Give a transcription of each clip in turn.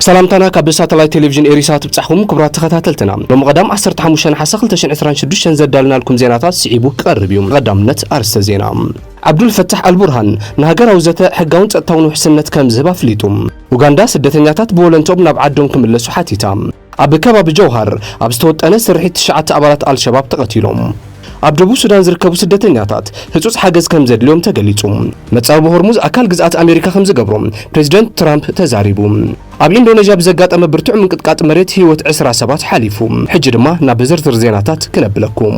ሰላምታና ካብ ሳተላይት ቴሌቪዥን ኤሪሳ ትብጻሕኩም ክቡራት ተኸታተልትና ሎሚ ቀዳም 15 ነሓሰ 2026 ዘዳልናልኩም ዜናታት ስዒቡ ክቐርብ እዩ ቀዳምነት ኣርስተ ዜና ዓብዱል ፈታሕ ኣልቡርሃን ንሃገራዊ ዘተ ሕጋውን ጸጥታውን ውሕስነት ከም ዝህብ ኣፍሊጡ ኡጋንዳ ስደተኛታት ብወለንቶም ናብ ዓዶም ክምለሱ ሓቲታ ኣብ ከባቢ ጀውሃር ኣብ ዝተወጠነ ስርሒት ትሽዓተ ኣባላት ኣልሸባብ ተቐቲሎም። ኣብ ደቡብ ሱዳን ዝርከቡ ስደተኛታት ህጹጽ ሓገዝ ከም ዘድልዮም ተገሊጹ። መጻብቦ ሆርሙዝ ኣካል ግዝኣት ኣሜሪካ ከም ዝገብሮ ፕረዚደንት ትራምፕ ተዛሪቡ። ኣብ ኢንዶነዥያ ብዘጋጠመ ብርቱዕ ምንቅጥቃጥ መሬት ህይወት ዕስራ ሰባት ሓሊፉ። ሕጂ ድማ ናብ ዝርዝር ዜናታት ክነብለኩም።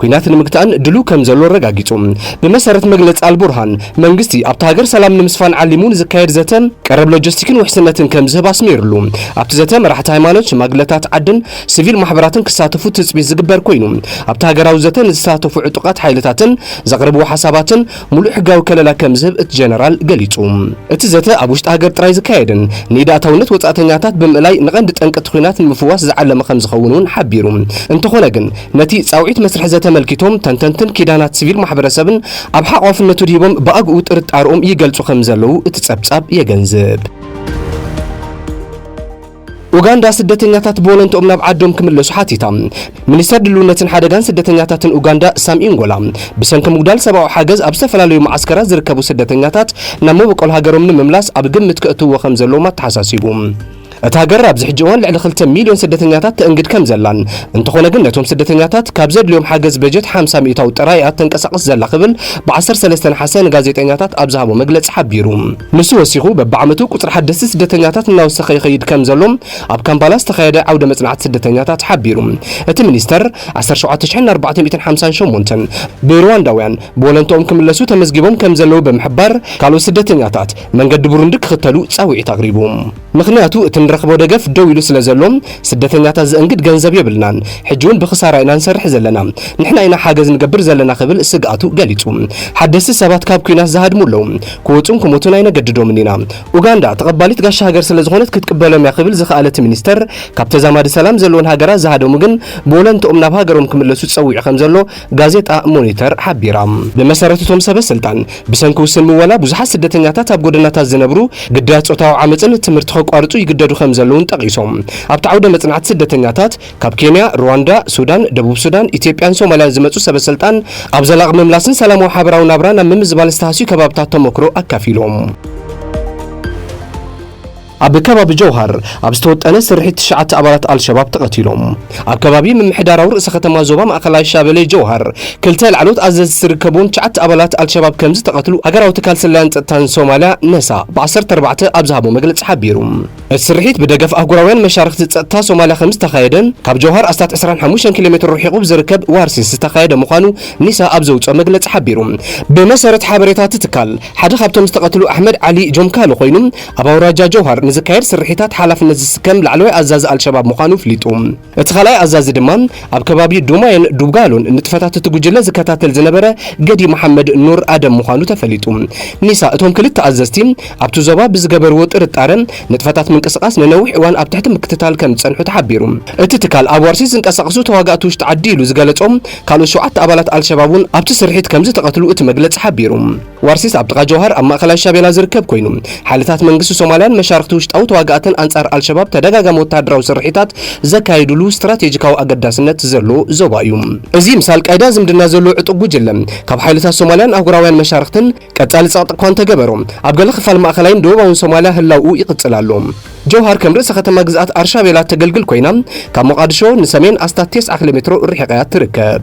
ኲናት ንምግታእን ድሉው ከም ዘሎ ኣረጋጊጹ። ብመሰረት መግለጺ ኣልቡርሃን፣ መንግስቲ ኣብታ ሃገር ሰላም ንምስፋን ዓሊሙ ንዝካየድ ዘተ ቀረብ ሎጂስቲክን ውሕስነትን ከም ዝህብ ኣስሚርሉ። ኣብቲ ዘተ መራሕቲ ሃይማኖት፣ ሽማግለታት ዓድን ሲቪል ማሕበራትን ክሳተፉ ትጽቢት ዝግበር ኰይኑ፣ ኣብቲ ሃገራዊ ዘተ ንዝተሳተፉ ዕጡቓት ሓይልታትን ዘቕረብዎ ሓሳባትን ሙሉእ ሕጋዊ ከለላ ከም ዝህብ እቲ ጀነራል ገሊጹ። እቲ ዘተ ኣብ ውሽጢ ሃገር ጥራይ ዝካየድን ንኢድ ኣእታውነት ወጻእተኛታት ብምእላይ ንቀንዲ ጠንቂ እቲ ኲናት ንምፍዋስ ዝዓለመ ከም ዝኸውን እውን ሓቢሩ። እንተኾነ ግን ነቲ ጻውዒት መስርሕ ዘተ ኣመልኪቶም ተንተንትን ኪዳናት ስቪል ማሕበረሰብን ኣብ ሓቛፍነቱ ድሂቦም ብኣግኡ ጥርጣርኦም ይገልጹ ከም ዘለዉ እቲ ጸብጻብ የገንዝብ። ኡጋንዳ ስደተኛታት ብወለንትኦም ናብ ዓዶም ክምለሱ ሓቲታ። ሚኒስተር ድልውነትን ሓደጋን ስደተኛታትን ኡጋንዳ ሳም ኢንጎላ፣ ብሰንኪ ምጉዳል ሰብኣዊ ሓገዝ ኣብ ዝተፈላለዩ መዓስከራት ዝርከቡ ስደተኛታት ናብ መበቆል ሃገሮም ንምምላስ ኣብ ግምት ከእትውዎ ከም ዘለዎም ኣተሓሳሲቡ። እታ ሃገር ኣብዚ ሕጂ እዋን ልዕሊ ክልተ ሚልዮን ስደተኛታት ተእንግድ ከም ዘላን፣ እንተኾነ ግን ነቶም ስደተኛታት ካብ ዘድልዮም ሓገዝ በጀት ሓምሳ ሚእታዊ ጥራይ እያ እተንቀሳቕስ ዘላ ክብል ብ ዓሰርተ ሰለስተ ነሓሰ ንጋዜጠኛታት ኣብ ዝሃቦ መግለጺ ሓቢሩ። ንሱ ወሲኹ፣ በብዓመቱ ቁጽሪ ሓደስቲ ስደተኛታት እናወሰኸ ይኸይድ ከም ዘሎ ኣብ ካምፓላ ዝተኻየደ ዓውደ መጽናዕቲ ስደተኛታት ሓቢሩ። እቲ ሚኒስተር፣ ዓሰርተ ሸውዓተ ሽሕን ኣርባዕተ ሚእትን ሓምሳን ሸሞንተን ብሩዋንዳውያን ብወለንትኦም ክምለሱ ተመዝጊቦም ከም ዘለዉ ብምሕባር፣ ካልኦት ስደተኛታት መንገዲ ቡሩንዲ ክኽተሉ ጻውዒት ኣቕሪቡ። ምኽንያቱ እቲ ንረኽቦ ደገፍ ደው ኢሉ ስለዘሎ፣ ስደተኛታት ዘእንግድ ገንዘብ የብልናን፣ ሕጂ'ውን ብኽሳራ ኢና ንሰርሕ ዘለና፣ ንሕና ኢና ሓገዝ ንገብር ዘለና ክብል ስግኣቱ ገሊጹ። ሓደስቲ ሰባት ካብ ኲናት ዝሃድሙ ኣለዉ፣ ክወጹን ክሞቱን ኣይነገድዶምን ኢና። ኡጋንዳ ተቐባሊት ጋሻ ሃገር ስለዝኾነት ክትቅበሎም'ያ ክብል ዝኸኣለ እቲ ሚኒስተር፣ ካብ ተዛማዲ ሰላም ዘለወን ሃገራት ዝሃደሙ ግን ብወለንትኦም ናብ ሃገሮም ክምለሱ ጸዊዑ ከምዘሎ ጋዜጣ ሞኒተር ሓቢራ። ብመሰረት እቶም ሰበስልጣን፣ ብሰንኪ ውስን ምወላ ብዙሓት ስደተኛታት ኣብ ጎደናታት ዝነብሩ ግዳያት ጾታዊ ዓመጽን ትምህርቲ ከቋርጹ ይግደዱ ከምዘለዉን ጠቒሶም፣ ኣብቲ ዓውደ መጽናዕቲ ስደተኛታት ካብ ኬንያ፣ ሩዋንዳ፣ ሱዳን፣ ደቡብ ሱዳን፣ ኢትዮጵያን ሶማልያን ዝመጹ ሰበስልጣን ኣብ ዘላቒ ምምላስን ሰላማዊ ሓበራዊ ናብራን ኣብ ምምዝባል ዝተሃስዩ ከባብታት ተሞክሮ ኣካፊሎም። ኣብ ከባቢ ጀውሃር ኣብ ዝተወጠነ ስርሒት ትሽዓተ ኣባላት ኣልሸባብ ተቐቲሎም። ኣብ ከባቢ ምምሕዳራዊ ርእሰ ከተማ ዞባ ማእኸላይ ሻበሌ ጀውሃር ክልተ ላዕለዎት ኣዘዝቲ ዝርከብዎም ትሽዓተ ኣባላት ኣልሸባብ ከምዝተቐትሉ ሃገራዊ ትካል ስለያን ፀጥታን ሶማሊያ፣ ነሳ፣ ብ ዓሰርተ ኣርባዕተ ኣብ ዝሃቦ መግለፂ ሓቢሩ። እቲ ስርሒት ብደገፍ ኣህጉራውያን መሻርኽቲ ፀጥታ ሶማሊያ ከምዝተኻየደ ካብ ጀውሃር ኣስታት ዕስራን ሓሙሽተን ኪሎ ሜትሮ ርሒቑ ብዝርከብ ዋርሲስ ዝተኻየደ ምዃኑ ኒሳ ኣብ ዘውፅኦ መግለፂ ሓቢሩ። ብመሰረት ሓበሬታ እቲ ትካል ሓደ ካብቶም ዝተቐትሉ ኣሕመድ ዓሊ ጆምካሎ ኮይኑ ኣብ ኣውራጃ ጀውሃር ንዝካየድ ስርሒታት ሓላፍነት ዝስከም ላዕለዋይ ኣዛዚ ኣልሸባብ ምዃኑ ኣፍሊጡ። እቲ ካልኣይ ኣዛዚ ድማ ኣብ ከባቢ ዱማየን ዱብጋሎን ንጥፈታት እቲ ጉጅለ ዝከታተል ዝነበረ ገዲ መሓመድ ኑር ኣደም ምዃኑ ተፈሊጡ። ኒሳ እቶም ክልተ ኣዘዝቲ ኣብቲ ዞባ ብዝገበርዎ ጥርጣረ ንጥፈታት ምንቅስቓስ ንነዊሕ እዋን ኣብ ትሕቲ ምክትታል ከም ዝጸንሑ ተሓቢሩ። እቲ ትካል ኣብ ዋርሲት ዝንቀሳቐሱ ተዋጋእቲ ውሽጢ ዓዲ ኢሉ ዝገለጾም ካልኦት ሸውዓተ ኣባላት ኣልሸባብ እውን ኣብቲ ስርሒት ከም ዝተቐትሉ እቲ መግለጺ ሓቢሩ። ዋርሲስ ኣብ ጥቓ ጆውሃር ኣብ ማእከላይ ሻቤላ ዝርከብ ኰይኑ፣ ሓይልታት መንግስቲ ሶማልያን መሻርኽቲ ውሽጣዊ ተዋጋእትን ኣንጻር ኣልሸባብ ተደጋጋሚ ወተሃደራዊ ስርሒታት ዘካይዱሉ ስትራቴጂካዊ ኣገዳስነት ዘለዎ ዞባ እዩ። እዚ ምስ ኣልቃይዳ ዝምድና ዘለዎ ዕጡቕ ጕጅለ፣ ካብ ሓይልታት ሶማልያን ኣህጉራውያን መሻርኽትን ቀጻሊ ጸቕጢ እኳ እንተገበሮ፣ ኣብ ገለ ክፋል ማእከላይን ደቡባውን ሶማልያ ህላውኡ ይቕጽል ኣሎ። ጆውሃር ከም ርእሰ ከተማ ግዝኣት ኣርሻቤላ እተገልግል ኰይና፣ ካብ ሞቓድሾ ንሰሜን ኣስታት ቴስዓ ኪሎሜትሮ ርሒቓ እያ እትርከብ።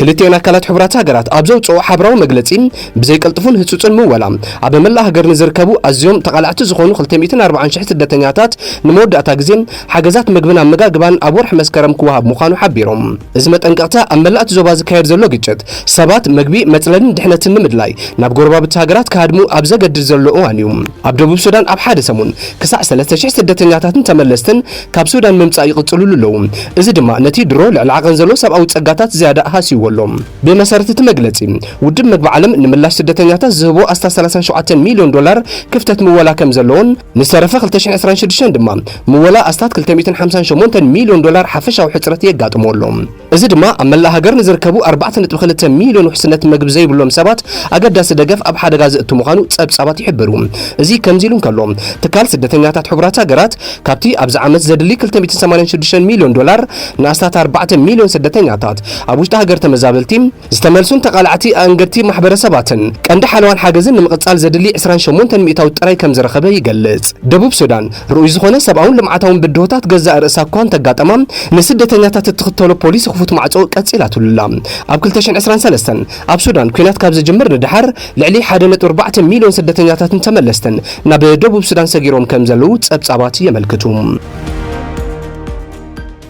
ክልቲኤን ኣካላት ሕቡራት ሃገራት ኣብ ዘውጽእኦ ሓበራዊ መግለጺ፣ ብዘይ ቅልጡፍን ህጹጽን ምወላ፣ ኣብ መላእ ሃገር ንዝርከቡ ኣዝዮም ተቓላዕቲ ዝኾኑ ክልተ ሚእትን ኣርባዓን ሽሕ ስደተኛታት ንመወዳእታ ግዜ ሓገዛት መግብን ኣመጋግባን ኣብ ወርሒ መስከረም ክወሃብ ምዃኑ ሓቢሮም። እዚ መጠንቀቕታ ኣብ መላእ'ቲ ዞባ ዝካየድ ዘሎ ግጭት፣ ሰባት መግቢ፣ መጽለልን ድሕነትን ንምድላይ ናብ ጎረባብቲ ሃገራት ክሃድሙ ኣብ ዘገድድ ዘሎ እዋን'ዩ። ኣብ ደቡብ ሱዳን ኣብ ሓደ ሰሙን ክሳዕ ሰለስተ ሽሕ ስደተኛታትን ተመለስትን ካብ ሱዳን ምምጻእ ይቕጽሉሉ ኣለዉ፣ እዚ ድማ ነቲ ድሮ ልዕሊ ዓቐን ዘሎ ሰብኣዊ ጸጋታት ዝያዳ ሃስይዎ ኣሎ። ብመሰረት እቲ መግለጺ፣ ውድብ መግቢ ዓለም ንምላሽ ስደተኛታት ዝህቦ ኣስታት ሰላሳን ሸውዓተን ሚልዮን ዶላር ክፍተት ምወላ ከም ዘሎን ንዝተረፈ ክልተ ሽሕን ዕስራን ሽዱሽተን ድማ ምወላ ኣስታት ክልተ ሚእትን ሓምሳን ሸሞንተን ሚልዮን ዶላር ሓፈሻዊ ሕጽረት የጋጥሞ ኣሎ። እዚ ድማ ኣብ መላእ ሃገር ንዝርከቡ ኣርባዕተ ነጥቢ ክልተ ሚልዮን ውሕስነት መግቢ ዘይብሎም ሰባት ኣገዳሲ ደገፍ ኣብ ሓደጋ ዘእቱ ምዃኑ ጸብጻባት ይሕብሩ። እዚ ከምዚ ኢሉ እንከሎ፣ ትካል ስደተኛታት ሕቡራት ሃገራት ካብቲ ኣብዚ ዓመት ዘድሊ ክልተ ሚእትን ሰማንያን ሽዱሽተን ሚልዮን ዶላር ንኣስታት ኣርባዕተ ሚልዮን ስደተኛታት ኣብ ውሽጢ ሃገር ተመዛበልቲ ዝተመልሱን ተቓላዕቲ ኣእንገድቲ ማሕበረሰባትን ቀንዲ ሓለዋን ሓገዝን ንምቕጻል ዘድሊ ዕስራን ሸሞንተን ሚእታዊት ጥራይ ከም ዝረኸበ ይገልጽ። ደቡብ ሱዳን፣ ርኡይ ዝኾነ ሰብኣውን ልምዓታውን ብድሆታት ገዛእ ርእሳ እኳ እንተ ኣጋጠማ፣ ንስደተኛታት እትኽተሎ ፖሊሲ ክፉት ማዕጾ ቀጺላትሉ ኣላ። ኣብ ክልተ ሽሕን ዕስራን ሰለስተን፣ ኣብ ሱዳን ኲናት ካብ ዝጅምር ንደሓር፣ ልዕሊ ሓደ ነጥቢ ኣርባዕተ ሚልዮን ስደተኛታትን ተመለስትን ናብ ደቡብ ሱዳን ሰጊሮም ከም ዘለዉ ጸብጻባት የመልክቱ።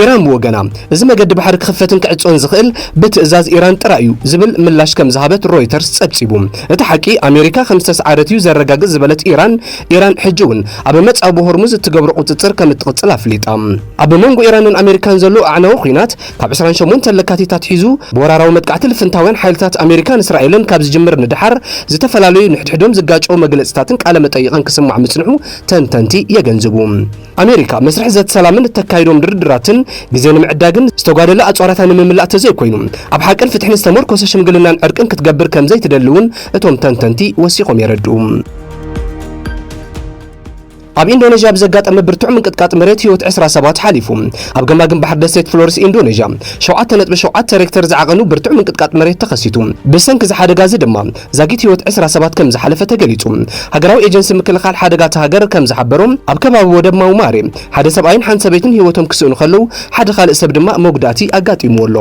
ኢራን ብወገና፣ እዚ መገዲ ባሕሪ ክኽፈትን ክዕጾን ዝኽእል ብትእዛዝ ኢራን ጥራይ'ዩ ዝብል ምላሽ ከም ዝሃበት ሮይተርስ ጸብጺቡ። እቲ ሓቂ ኣሜሪካ ከም ዝተስዓረት'ዩ ዘረጋግጽ ዝበለት ኢራን፣ ኢራን ሕጂ'ውን ኣብ መጻብቦ ሆርሙዝ እትገብሮ ቁጽጽር ከም እትቕጽል ኣፍሊጣ። ኣብ መንጎ ኢራንን ኣሜሪካን ዘሎ ኣዕናዊ ኲናት፣ ካብ ዕስራን ሸሞንተን ለካቲት ኣትሒዙ ብወራራዊ መጥቃዕቲ ልፍንታውያን ሓይልታት ኣሜሪካን እስራኤልን ካብ ዝጅምር ንደሓር፣ ዝተፈላለዩ ንሕድሕዶም ዝጋጨዉ መግለጺታትን ቃለ መጠይቕን ክስማዕ ምጽንሑ ተንተንቲ የገንዝቡ። ኣሜሪካ መስርሕ ዘተ ሰላምን እተካይዶም ድርድራትን ግዜ ንምዕዳግን ዝተጓደለ ኣጽዋራታ ንምምላእ ተዘይኮይኑ ኣብ ሓቅን ፍትሕን ዝተመርኮሰ ሽምግልናን ዕርቅን ክትገብር ከምዘይትደሊ እውን እቶም ተንተንቲ ወሲኾም የረድኡ። ኣብ ኢንዶነዥያ ብዘጋጠመ ብርቱዕ ምንቅጥቃጥ መሬት ህይወት ዕስራ ሰባት ሓሊፉ። ኣብ ገማግም ባሕሪ ደሴት ፍሎርስ ኢንዶነዥያ 7.7 ሬክተር ዝዓቐኑ ብርቱዕ ምንቅጥቃጥ መሬት ተኸሲቱ። ብሰንኪ እዚ ሓደጋ እዚ ድማ ዛጊት ህይወት ዕስራ ሰባት ከም ዝሓለፈ ተገሊጹ። ሃገራዊ ኤጀንሲ ምክልኻል ሓደጋ እታ ሃገር ከም ዝሓበሮ፣ ኣብ ከባቢ ወደብ ማውማሬ፣ ሓደ ሰብኣይን ሓንቲ ሰበይትን ህይወቶም ክስእኑ ከለዉ፣ ሓደ ካልእ ሰብ ድማ መጉዳእቲ ኣጋጢምዎ ኣሎ።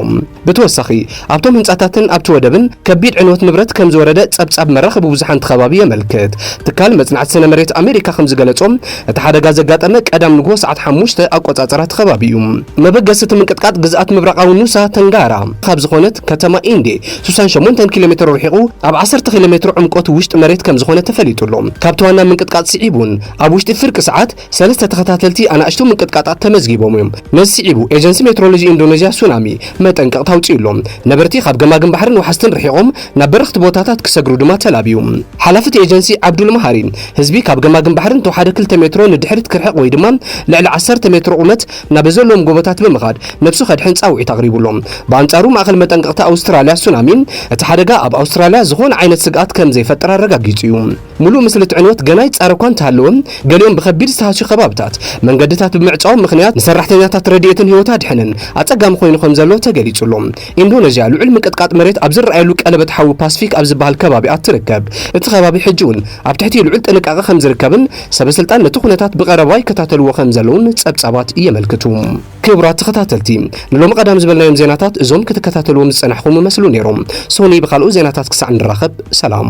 ብተወሳኺ፣ ኣብቶም ህንጻታትን ኣብቲ ወደብን ከቢድ ዕንወት ንብረት ከም ዝወረደ ጸብጻብ መራኸቢ ብዙሓን እቲ ከባቢ የመልክት። ትካል መጽናዕቲ ስነ መሬት ኣመሪካ ከም ዝገለጾ፣ እቲ ሓደጋ ዘጋጠመ ቀዳም ንግሆ ሰዓት ሓሙሽተ ኣቆጻጽራ እቲ ከባቢ እዩ። መበገሲ እቲ ምንቅጥቃጥ ግዝኣት ምብራቓዊ ኑሳ ተንጋራ ካብ ዝኾነት ከተማ ኢንዴ ስሳን ሸሞንተን ኪሎ ሜትሮ ርሒቑ ኣብ ዓሰርተ ኪሎ ሜትሮ ዕምቆት ውሽጢ መሬት ከም ዝኾነ ተፈሊጡ ኣሎ። ካብቲ ዋና ምንቅጥቃጥ ስዒቡ እውን ኣብ ውሽጢ ፍርቂ ሰዓት ሰለስተ ተኸታተልቲ ኣናእሽቱ ምንቅጥቃጣት ተመዝጊቦም እዮም። ነዚ ስዒቡ ኤጀንሲ ሜትሮሎጂ ኢንዶነዥያ ሱናሚ መጠንቀቕታ ኣውጺኡ ኣሎ። ነበርቲ ካብ ገማግም ባሕርን ወሓዝትን ርሒቖም ናብ በረኽቲ ቦታታት ክሰግሩ ድማ ተላብዩ። ሓላፊ እቲ ኤጀንሲ ዓብዱል መሃሪ፣ ህዝቢ ካብ ገማግም ባሕርን ተወሓደ ክልተ ሜትሮ ንድሕሪት ክርሕቕ ወይ ድማ ልዕሊ ዓሰርተ ሜትሮ ቁመት ናብ ዘለዎም ጎቦታት ብምኻድ ነብሱ ከድሕን ጻውዒት ኣቕሪቡ ኣሎ። ብኣንጻሩ ማእከል መጠንቀቕታ ኣውስትራልያ ሱናሚ፣ እቲ ሓደጋ ኣብ ኣውስትራልያ ዝኾነ ዓይነት ስግኣት ከም ዘይፈጥር ኣረጋጊጹ እዩ። ምሉእ ምስሊ እቲ ዕንወት ገና ይጻረ እኳ እንተሃለወ፣ ገሊኦም ብከቢድ ዝተሃስዩ ከባብታት መንገድታት ብምዕጻዎም ምኽንያት ንሰራሕተኛታት ረድኤትን ህይወት ኣድሕንን ኣጸጋሚ ኮይኑ ከም ዘሎ ተገሊጹ ኣሎ። ኢንዶነዥያ ልዑል ምንቅጥቃጥ መሬት ኣብ ዝረኣየሉ ቀለበት ሓዊ ፓስፊክ ኣብ ዝበሃል ከባቢ'ያ እትርከብ። እቲ ከባቢ ሕጂ'ውን ኣብ ትሕቲ ልዑል ጥንቃቐ ከም ዝርከብን ሰበ ስልጣን ነቲ ኩነታት ብቐረባ ይከታተልዎ ከም ዘለዉን ጸብጻባት የመልክቱ። ክቡራት ተኸታተልቲ ንሎሚ ቀዳም ዝበልናዮም ዜናታት እዞም ክትከታተልዎም ዝጸናሕኹም እመስሉ ነይሮም። ሶኑይ ብኻልኦት ዜናታት ክሳዕ ንራኸብ ሰላም።